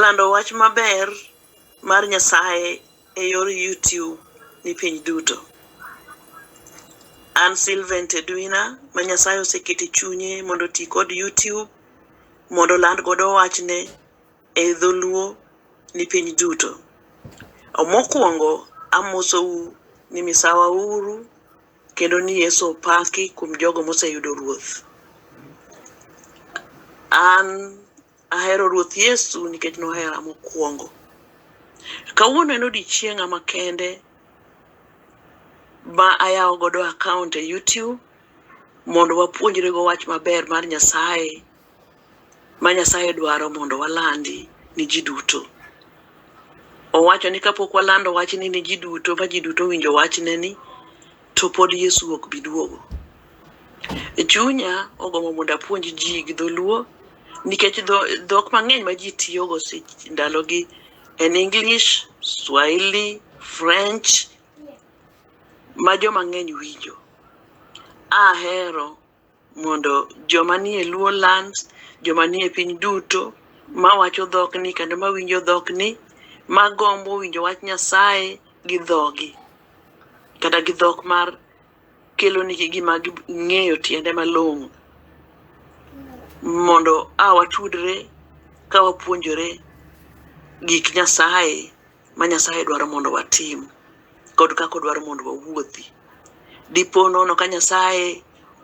Lando wach maber mar Nyasaye e yor YouTube ni piny duto. An Sylvain Tedwina ma Nyasaye oseketo e chunye mondo oti kod YouTube mondo oland godo wachne e dholuo ni piny duto. Mokwongo amosou ni misawa uru Kendo ni Yesu opaki kuom jogo moseyudo Ruoth. An ahero Ruoth Yesu nikech nohera mokwongo. Kawuono en odiechienga makende ma ayawo godo akaont e YouTube mondo wapuonjrego wach maber mar Nyasaye. ma Nyasaye dwaro mondo walandi ni ji duto. Owacho ni kapok walando wachni ni ji duto ma ji duto winjo wachne ni to pod Yesu ok bi duogo. E chunya ogombo mondo apuonj ji gi dholuo nikech dhok mang'eny ma ji tiyogo ndalogi en English, Swahili, French ma joma ng'eny winjo. Ahero mondo joma nie Luo lands, joma nie piny duto mawacho dhokni kendo mawinjo dhokni, magombo winjo wach Nyasaye gi dhogi kata gi dhok mar kelonigi gima ging'eyo tiende malong'o mondo a watudre ka wapuonjore gik Nyasaye. ma Nyasaye dwaro mondo watim kod kaka odwaro mondo wawuothi. Dipo nono ka Nyasaye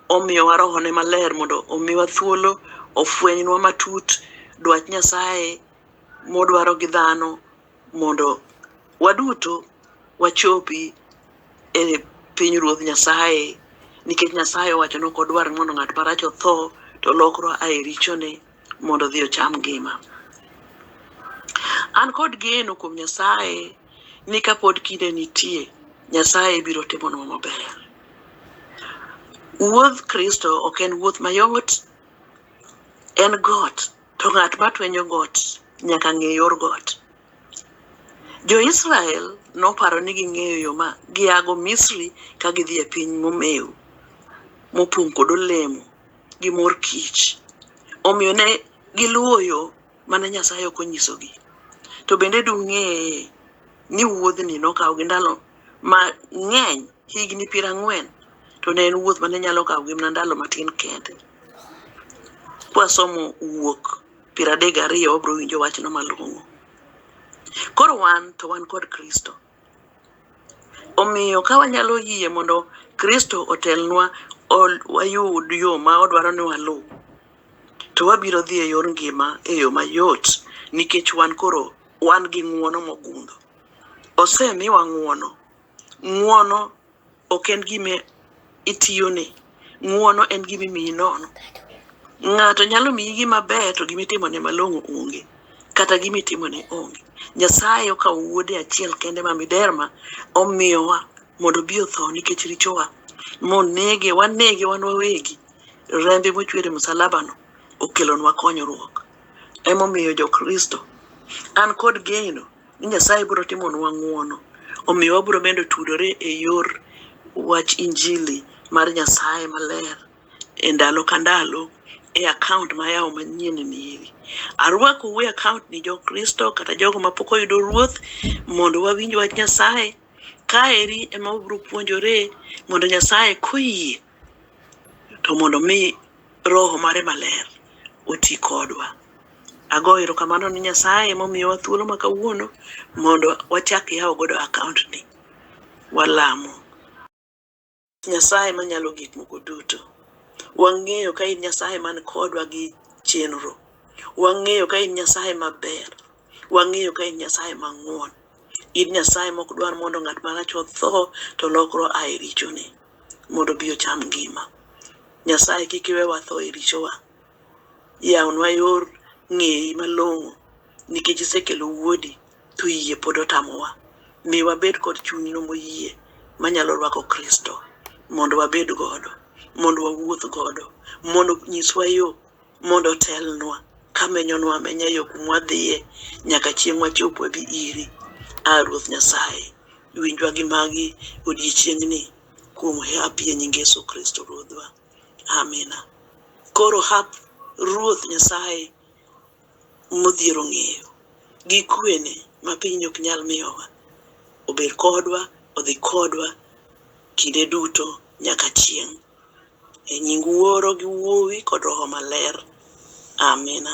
omiyowa rohone maler mondo omiwa thuolo ofwenynwa matut dwach Nyasaye modwaro gi dhano mondo waduto wachopi e piny ruoth Nyasaye nikech Nyasaye owacho ni ok odwar mondo ng'at marach otho to lokro ae richone mondo odhi ocham ngima. An kod geno kuom Nyasaye ni kapod kinde nitie, Nyasaye biro timonwa maber. Wuodh Kristo ok en wuoth mayot, en got, to ng'at matwenyo got nyaka ng'e yor got. Jo-Israel noparo ni ging'eyo yo ma giago Misri ka gidhi e piny momew, mopong' kod olemo. gi mor kich. Omiyo ne giluwo yo mane Nyasaye ok onyisogi. To bende dung'e ni wuodhni nokawo gi ndalo mang'eny, higni piero ang'wen, to ne en wuoth mane nyalo kawo gi mana ndalo matin kende. Kwasomo wuok piero adek gariyo wabiro winjo wachno malong'o. Koro wan to wan kod Kristo. Omiyo, ka wanyalo yie mondo Kristo otelnwa, wayud yo ma odwaro ni waluw, to wabiro dhi e yor ngima e yo mayot nikech wan koro wan gi ng'wono mogundho. Osemiwa ng'wono. Ng'wono ok en gima itiyone ng'uono en gima imiyi nono ng'ato nyalo miyi gima ber to gima itimone malong'o onge kata gima itimone onge nyasaye okawo wuode achiel kende ma miderma omiyowa mondo obi otho nikech richowa monege wanege wan wawegi rembe mochwer e msalabano okelonwa konyruok emomiyo jokristo an kod geno ni Nyasaye biro timonwa ng'wono. Omiyo wabiro medo tudore e yor wach injili mar Nyasaye maler e ndalo ka ndalo e akaont ma yawo manyien ni eri. Arwakou e akaont ni Jokristo kata jogo mapok oyudo Ruoth mondo wawinj wach Nyasaye. Kaeri ema wabiro puonjore mondo Nyasaye koyie to mondo mi roho mare maler oti kodwa. Agoyo erokamano ni Nyasaye momiyowa thuolo ma kawuono mondo wachak yawo godo akaont ni. Walamo. Nyasaye manyalo gik moko duto. Wang'eyo ka in Nyasaye man kodwa gi chenro. Wang'eyo ka in Nyasaye maber. Wang'eyo ka in Nyasaye mang'won. In Nyasaye mok dwar mondo ng'at marach otho to lokro ae richone. mondo obi ocham ngima. Nyasaye kik iwe watho e richowa. Yawnwa yor ng'eyi malong'o nikech isekelo wuodi to yie pod otamowa. Mi wabed kod chunyno moyie manyalo rwako Kristo mondo wabed godo, mondo wawuoth godo, mondo nyiswa yo Mondo otelnwa kamenyonwa amenya yo kumwa dhiye nyaka chieng' wachop wabi iri. A Ruoth Nyasaye, winjwa gi magi odiechiengni kuom hap ye nying Yesu Kristo Ruodhwa. Amina. Koro hap Ruoth Nyasaye modhiero ng'eyo gi kwene ma piny ok nyal miyowa obed kodwa, odhi kodwa kinde duto nyaka chieng'. E nying Wuoro gi Wuowi kod Roho Maler. Amina.